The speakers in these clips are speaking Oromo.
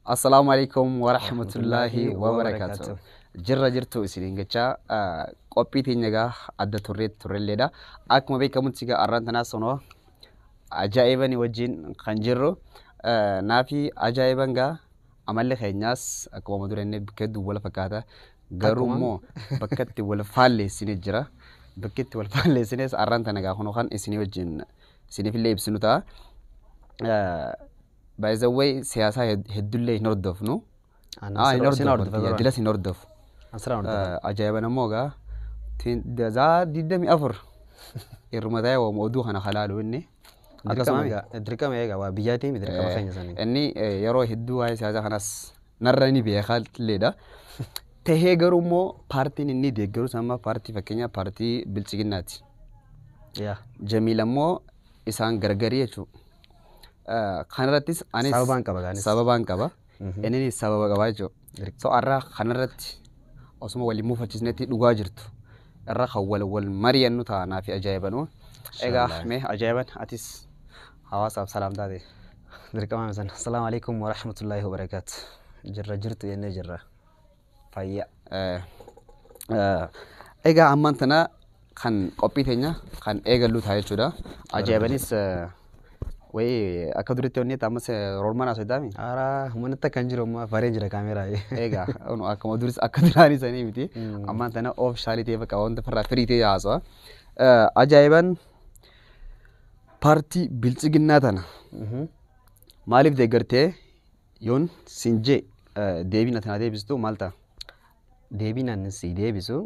Assalaamu alaikum wa rahmatullaahi wa barakaatu. Jirra jirtu isiniin jecha ah, qophii teenya egaa adda turree turrelleedha. Akkuma beekamutti egaa arraan tanaa sonoo ajaa'ibani wajjin kan jirru ah, naafi ajaa'iban egaa amalli keenyaas akkuma amma durenne bakka hedduu wal fakkaata. Garuu Akkuma- immoo bakka itti wal faalleessine jira. Bakki itti wal faalleessines arraan tana egaa kunoo kan isinii wajjin isiniifillee ibsinu ta'a. Ah, By the way siyaasaa hed- heddullee hin hordofnu. Ani Ah, hin sirba- sin hordofu. hordofa Kiyya, bara. Dilas hin hordofu. Ani siraan hordofa. Eh, Ajaa'iba namoo gaa. Tin- Dazaa 24. Irruma ta'ee waama oduu kana halaalu inni. Dirqama Akkasuma egaa- dirqama egaa waa biyyaatii miti dirqama keenya sanii. Inni eh, yeroo hedduu waa'ee siyaasaa kanas narra ni beekaa illeedha. Tahee garuu immoo paartiin inni deeggarus amma paartii fakkeenyaa paartii bilchiginnaati. Yaa. Jamiil ammoo isaan gargarii jechuudha. Kanarrattis anis Sababaan qaba gaanis. sababaan qaba. Mhm. Inninis sababa qaba jechuudha. Dirqama. So har'a kanarratti osuma waliin mufachiisnetti dhugaa jirtu irra kan wal wal mari'annu ta'a naaf ajaa'ibanuu. Egaa Inshallah. mee ajaa'iban atis hawaasaaf salaam taate. Dirqama misan. Assalaamu alaikum wa rahmatullahi wa barakaatu. Jirra jirtu jennee jirra. fayyaa. Egaa ammaan tana kan qophii teenya kan eegallu ta'a jechuudha. Ajaa'ibanis wayii akka duritti onnee ta'a ammas roormaan haasoo taa'ame. Haaraa humanitti akkan jiru amma faree jira kaameeraa. Egaa unu akkuma duris akka duraanii sanii miti. Ammaan tana of shaalii ta'e bakka wanta farraa firii ta'e haasawa. Ajaa'iban paartii bilchiginnaa tana maaliif deeggartee Yoon siin jee deebiin ati naa deebistu maal ta'a? Deebiin ani sii deebisu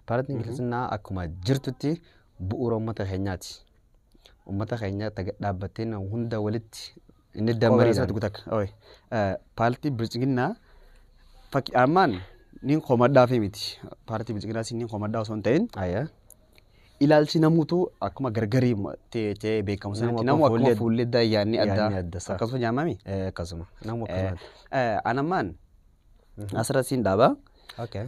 paartiin kiristinnaa akkuma jirtutti bu'uura uummata keenyaati. Uummata keenya taga dhaabbattee na hunda walitti inni dammarii isaatti gutak. Paartii bilchiginnaa fakki armaan niin komadhaa fi miti. Paartii bilchiginnaa siin niin komadhaa osoo hin ta'in Ayyaa. Ilaalchi namuutu akkuma gargari ta'ee beekamu sanatti namu akkuma fuullee addaa yaadni addaa akkasuma jaamami. Akkasuma. Namu akkasuma. Anammaan asirra siin dhaaba.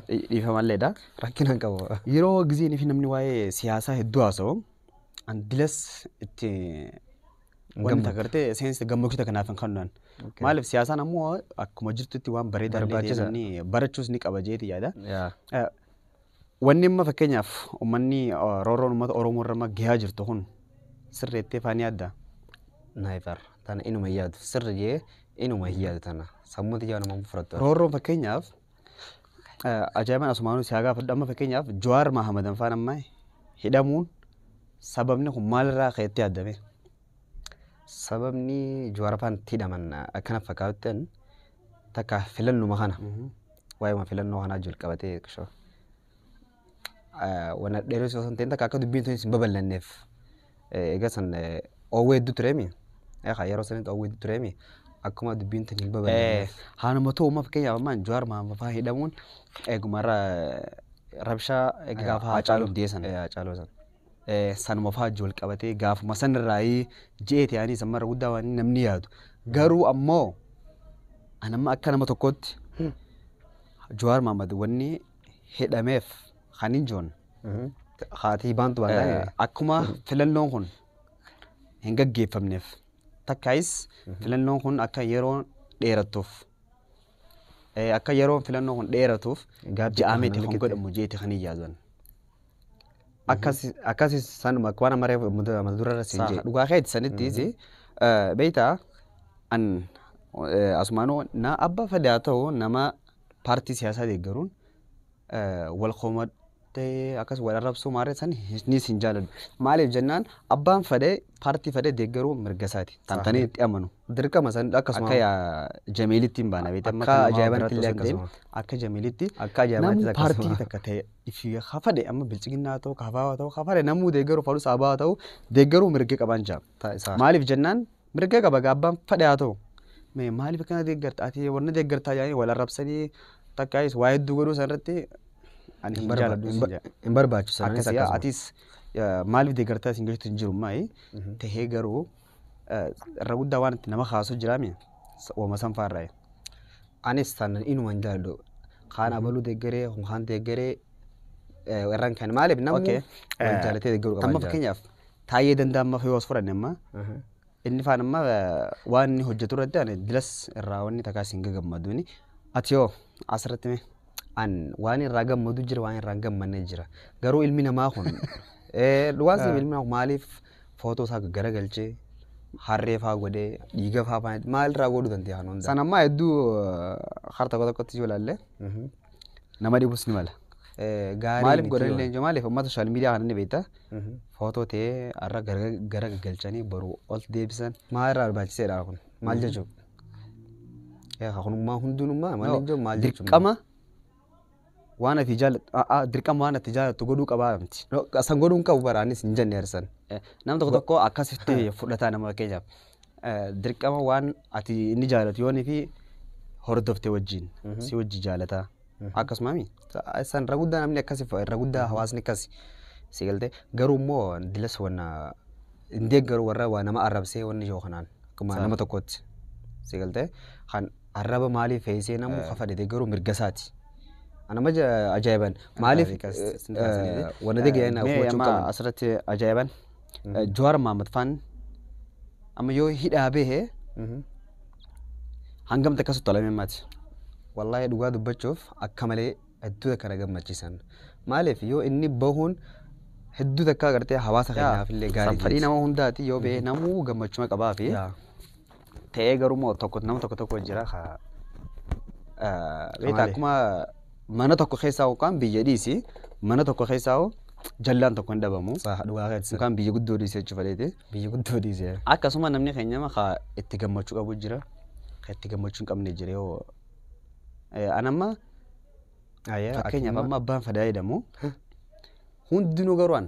Dhiifamalleedha. Rakkina hin qabu. Yeroo gizeen fi namni waa'ee siyaasaa hedduu haasa'u andilas itti wanti agartee seensa gammachiisa kanaaf hin kennan. Maaliif siyaasaan ammoo akkuma jirtutti waan bareedaa barbaachisa barachus ni qaba jeeti yaada. Wanni amma fakkeenyaaf ummanni roorroon ummata Oromoo irra amma gahaa jirtu kun sirreettee faan yaadda? Never. Tana inuma hin yaadu. Sirri jee inuma hin yaadu tana. Sammuu tiyyaa nama fudhattu. Roorroon fakkeenyaaf ajaa'ibaan asumaanuu si haa gaafadhu amma fakkeenyaaf Jawaar Mahamadan faan amma hidhamuun sababni kun maalirraa ka'etti yaaddame? Sababni Jawaarafaan itti hidhaman akka na fakkaatutti ani takka filannuma kana waa'eema filannoo kanaa jalqabatee qishoo wana dheeressuu osoo hin ta'in takka akka dubbiin tunis hin babal'anneef egaa san oowwee hedduu tureemi egaa yeroo sanitti oowwee hedduu tureemi akkuma dubbiin tun hin babal'anneef. Haaluma ta'u amma fakkeenyaaf amma Jawaar Maamafaa hidhamuun eeguma irra rabshaa egaa gaafa Haacaaluu Abdee sana. Haacaaluu sana. sanuma faa wajji wal qabatee gaafuma san irraayi je'eeti anis amma irra guddaa waan namni yaadu garuu ammoo an amma akka nama tokkootti Jawaar Mahammad wanni hidhameef kan hin joon Haatii baantu waan ta'e. akkuma filannoon kun hin gaggeeffamneef takkaayis filannoon kun akka yeroo dheerattuuf Eh, Akka yeroon filannoo kun dheeratuuf Gaabbii ja'a miti kana kan keessa- godhamu jeeti kan hin yaadan. Akkas akkasis sanuma akka waan amaree mata mata durarra siin Saha, jee. dhugaa keeti sanittiis eh, beektaa an eh, asumaanuu na abba fedhaa ta'u nama paartii siyaasaa deeggaruun eh, wal koma ta'ee akkas wal arrabsuu maarree san ni sin jaaladhu. Maaliif jennaan abbaan fadhee paartii fadhee deeggaruu mirga isaati. Tan tanee itti amanu. Dirqama san Akkasuma. akka yaa Jamiilitti hin baana beekte amma Akka kan namaa ajaa'ibaatti biraattuu illee hin deemu. akkasuma. Akka Jamiilitti Akka ajaa'ibaatti namuu akkasuma. paartii takka ta'e ifi haa fadhe amma bilchiginnaa ta'u kaafaa ta'u haa fadhe namuu deeggaruu fadhus abaa ta'u deeggaruu mirga qabaan jaa. Ta'a isaa. Maaliif jennaan Mirga qaba gaa abbaan fadhe haa ta'u. Me- Maaliif akkana deeggarta? Ati warna deeggartaa jedhanii wal arrabsanii takkaayis waa hedduu godhuu san irratti ani hin jaaladhu sin jedha. Hin barbaachisu. Anis Akkasii akkasuma. atis eh, maaliif deeggartaa isin jechuutu hin jiru maayi tahee garuu eh, irra guddaa waan itti nama kaasu jiraami wama san faarraa'e. Anis tan inuma hin jaaladhu. Kaan abaluu deeggaree, kun kaan deeggaree eh, irraan kan maaliif namni Okay. wal jaalatee deeggaruu qaba. Amma hin jaalatu. fakkeenyaaf Taayyee Dandaa amma yoo as fudhanne amma inni faan amma waan inni hojjetu irratti ani dilas irraa wanni takkaa isin gagammaduuni ati yoo asirratti mee an waan irraa gammadu jira waan irraa hin gammanne jira garuu ilmi namaa kun eh, dhugaan siif ilmi namaa kun maaliif footoo isaa garagalchee harree faa godhee dhiiga faa faan maal irraa godhuu dandeenya kan hundaa. San ammaa hedduu eh, har tokko tokkotti yoo ilaalle Nama dhibus ni mala. Gaarii Maaliif miti godhan yoo- leenjoo maaliif uummata sooshaal miidiyaa kana ni beekta. Mhm. Footoo ta'ee har'a gara gara gaggalchanii boru ol deebisan maal irraa barbaachiseedha kun maal jechuun. Yaa kunummaa hundinummaa maal jechuun maal jechuun. Dirqama waan ati jaallattu a'aa dirqama waan ati jaallattu godhuu qabaa miti. No, San godhuu hin qabu baraanis hin jenne harsan. Nam tokko tokko akkasitti fudhataa nama fakkeenyaaf. dirqama waan ati inni jaalatu yoo inni fi hordofte wajjin si wajji jaalata akkasumaami san irra guddaa namni akkasi irra guddaa hawaasni akkasi si galte garuu immoo dilas wanna hin deeggaru warra waa nama arrabsee wanni yoo kanaan akkuma nama tokkotti si galte kan arraba maalii feesee namu kafa dhete garuu mirgasaati. Anama ajaa'iban maaliif wanna deeggaran asirratti ajaa'iban Jawaar Mahammad faan amma yoo hidhaa bahe hangam takka sottalamee maati. Wallaahi dhugaa dubbachuuf akka malee hedduu takka na gammachiisan. Maaliif yoo inni bahuun hedduu takka agartee hawaasa keenyaaf illee gaarii jechuudha. Fedhii nama hundaati yoo bahee namuu gammachuma qabaa fi ta'ee garuu immoo tokko nama tokko tokko jira ka beektaa Kamalee. akkuma mana tokko keessaa yookaan biyya dhiisi mana tokko keessaa hoo jallaan tokko hin dhabamu Saa dhugaa keessa. yookaan biyya guddoo dhiisee jechuuf fedheeti. Biyya guddoo dhiisee. Akkasuma namni keenya ka itti gammachuu qabu jira ka itti gammachuu hin qabne jira yoo Eh, an amma Ayee. fakkeenyaaf amma abbaan fadaa jedhamu hundinuu garuu an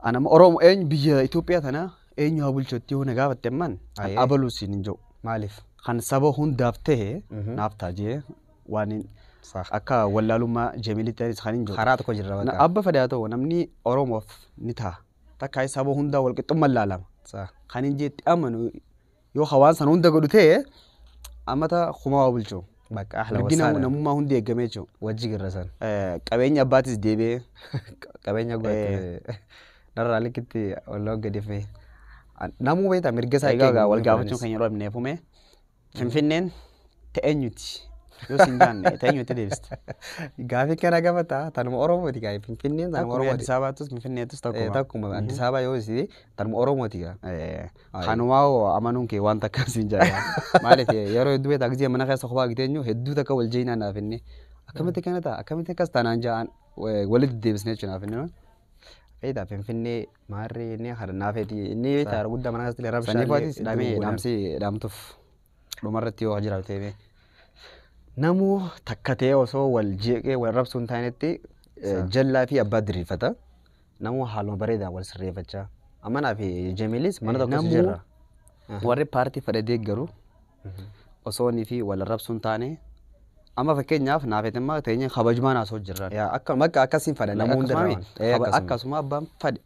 an amma Oromoo eenyu biyya Itoophiyaa tanaa Eenyu haa bulchu itti yoo na gaafatte ammaan an Ayee. abaluu siin hin jedhu. Maaliif? Kan saba hundaaf ta'e Mhm. naaf ta'a jee waan hin- Saah. akka wallaalummaa Jamiilitti anis kan hin jedhu. Karaa tokko jirra Na- bakka. Abba fedhe haa ta'u namni Oromoof ni ta'a. Takkaa saba hundaa walqixxummaan laalama. Saah. Kan hin jeetti amanu yoo ka waan sana hunda godhu ta'e ammata kumaa waa bulchu Bakka ahla mirgi wasaala. namummaa hundi eeggamee jechuudha. Wajji girra san. Eh, qabeenya abbaatis deebi'ee Qabeenya godhatte narraa likkitti walloo gadi fi namuu beektaa mirga isaa egaa egaa wal gaafachuun kan yeroo dhabnee fume finfinneen ta'eenyuti yoo siin jaanne ta'eenyuti deebista Gaafii kana gaafata tanuma Oromooti gaa Finfinneen tanuma akkuma Oromooti. Addis Ababaattus Finfinneettus Eh, takkuma. Takkuma Addis Ababaa yoo si tanuma Oromooti gaa. Eh, Kanumaa hoo amanuun kee waan takka siin jaalaa. Maaliif yeroo hedduu beektaa gisee mana keessa kophaa giteenyu hedduu takka wal jeeynaa naaf inni. Akkamitti kana ta'a akkamitti akkas taanaan ja'aan walitti deebisnee jechuun naaf inni. Beektaa finfinnee maarree inni kana naaf heeti inni beektaa guddaa mana keessatti rabshaa. Saniif waatis dhaamee dhaamsi dhaamtuuf dhumarratti yoo jiraatee mee. Namuu takka ta'ee osoo wal jeeqee wal rabsuun taanetti jallaa fi abbaa diriirfata. Namuu haaluma bareedaan wal sirreeffachaa. Amma naa fi Jamiilis mana tokko Namuu- jirra. Warri paartii fedhe deeggaru osoo inni fi wal arrabsuun taane amma fakkeenyaaf naaf etimmaa teenyee kabajumaan haasoo jirran. Yaa akka bakka akkasiin fadha namuu hunda Akkasuma irraa. miti. Kaba- Akkasuma abbaan fadhe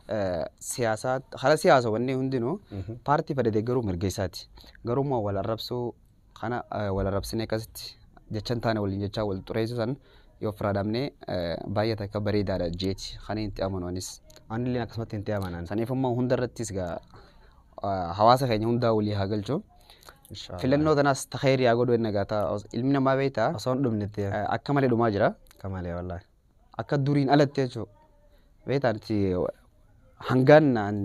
eh, siyaasaa hara siyaasa wanni hundinuu paartii fadhe deeggaruu mirga isaati. Garuu immoo wal arrabsuu Kana wal arrabsinee akkasitti jecha hin taane waliin jechaa wal xureessuu san yoo ofirraa dhabnee baay'ee takka bareedaadha jeeti kan itti amanu anis. Anillee akkasumatti hin amanan. Saniif immoo hunda irrattis gaa hawaasa keenya hundaa walii haa galchu. Filannoo tanaas ta kheyrii haa godhu enna gaata ilmi namaa beeyta Osoo hin dhumnetti akka malee dhumaa jira. akka malee wallaahi. Akka duriin alatti jechuudha. Beeyta nuti hangaan naan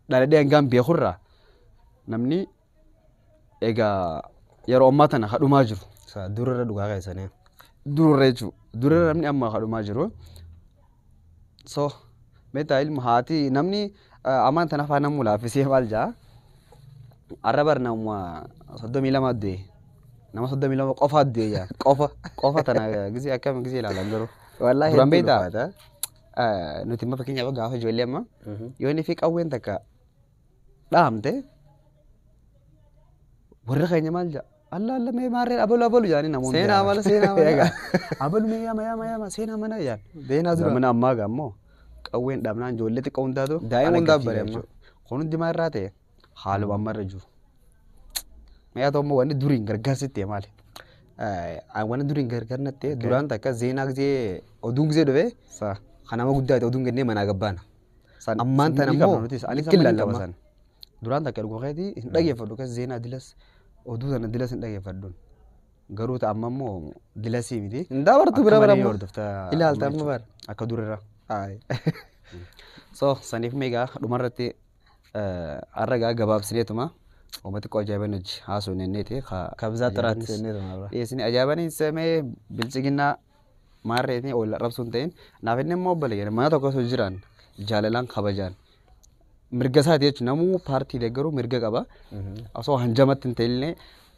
dhaladhee hangaan beekurraa namni Egaa yeroo ammaa tana ka dhumaa jiru. Isa durarra dhugaa keessanii. Durarra jechuudha. Durarra namni amma ka dhumaa jiru. So meetaa ilma haati namni eh, amaan tana afaan namuu laaffisee maal jaa? Arra bar nama soddomii lama du'e. Nama soddomii lama qofa du'e jaa. Qofa qofa tana gisee akkam gisee ilaalan garuu. Wallaahi Duraan hedduu beektaa? ulfaata. Eh, Nuti amma fakkeenyaaf gaafa ijoollee amma yoonii fi qawween takka dhaamte warri keenya maal jedha alla alla mee maarreen abalu abalu jedhanii namoonni seenaa mala seenaa mala abalu mee yama yama yama seenaa mana jedhan beenaa dura zamana ammaa gaa immoo qawween dhabnaan ijoollee xiqqoo hundaatu Daa'ima ala hundaa gadi bare jechuudha. amma. kun hundi maal irraa ta'e haaluma amma irra jiru mee haa ta'u immoo wanni duriin gargaarsi ta'e maali Eh, wanni duriin gargaar na ta'e duraan takka zeenaa gisee oduun gisee dhufee Sa- kan nama guddaa ta'e oduun kennee manaa gabbaana San Ammaan tana ni qabna immoo nutis. Anis amma ni qaba lallama. san. Duraan takka dhuguma keetii hin dhageeffadhu kas zeenaa dilas oduu sana dilas hin dhageeffadhu. Garuu ta amma immoo dilasii miti. Hin dabartu Akka bira malee bara ni amma. hordofta Ilaalta amma amma jechuudha. bara. Akka durirra. Ayi. So saniif meegaa dhumarratti eh, har'a egaa gabaabsineetuma uummata xiqqoo ajaa'iban hojii haasoo nenneeti. Kabzaa xiraatti. Dhiyeessini ajaa'iban hin seemee bilchiginnaa Maarreetiin wal arrabsuun ta'in naaf inni immoo obboleeyyan mana tokko osoo jiran jaalalaan kabajaan mirga isaati jechuun namuu paartii deeggaruu mirga qaba osoo hanjamatti hin ta'inillee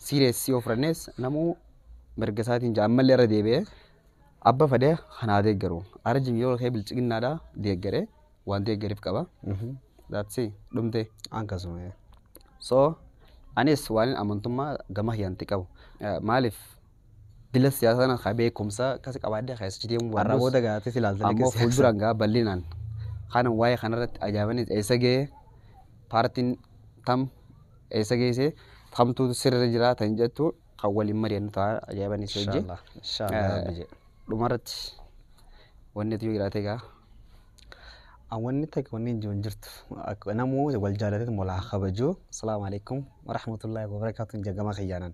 siireessii yoo fudhannees namuu mirga isaatiin jaa ammallee irra deebi'ee abba fadee kanaa deeggaru arjin yoo kee bilchiginnaadhaa deeggare waan deeggariif qaba daatsii dhumtee akkasuma so anis waan amantummaa gama hiyyanti qabu Eh, maaliif Jila siyaasaa sana ka beekumsa akkasi qabaadde keessa achi deemuu Har'a baannus booda gaatee si ilaaltanii ammoo keessaa fuulduraan gaa bal'inaan kanan waa'ee kanarratti ajaa'ibanis eessa ga'e paartiin tam eessa geesse kamtu sirri jira tan jettu kan waliin mari'annu ta'a ajaa'ibanis hojii. Inshallah. Inshallah Eh, rabbi jedhe. Dhumarratti wanni ati yoo jiraate gaa An wanni takka wanni hin jiru hin jirtu. Akka namuu wal jaalatee walaa kabajuu. Asalaamu alaikum warahmatullahi wabarakatuh jagama kiyyaanan.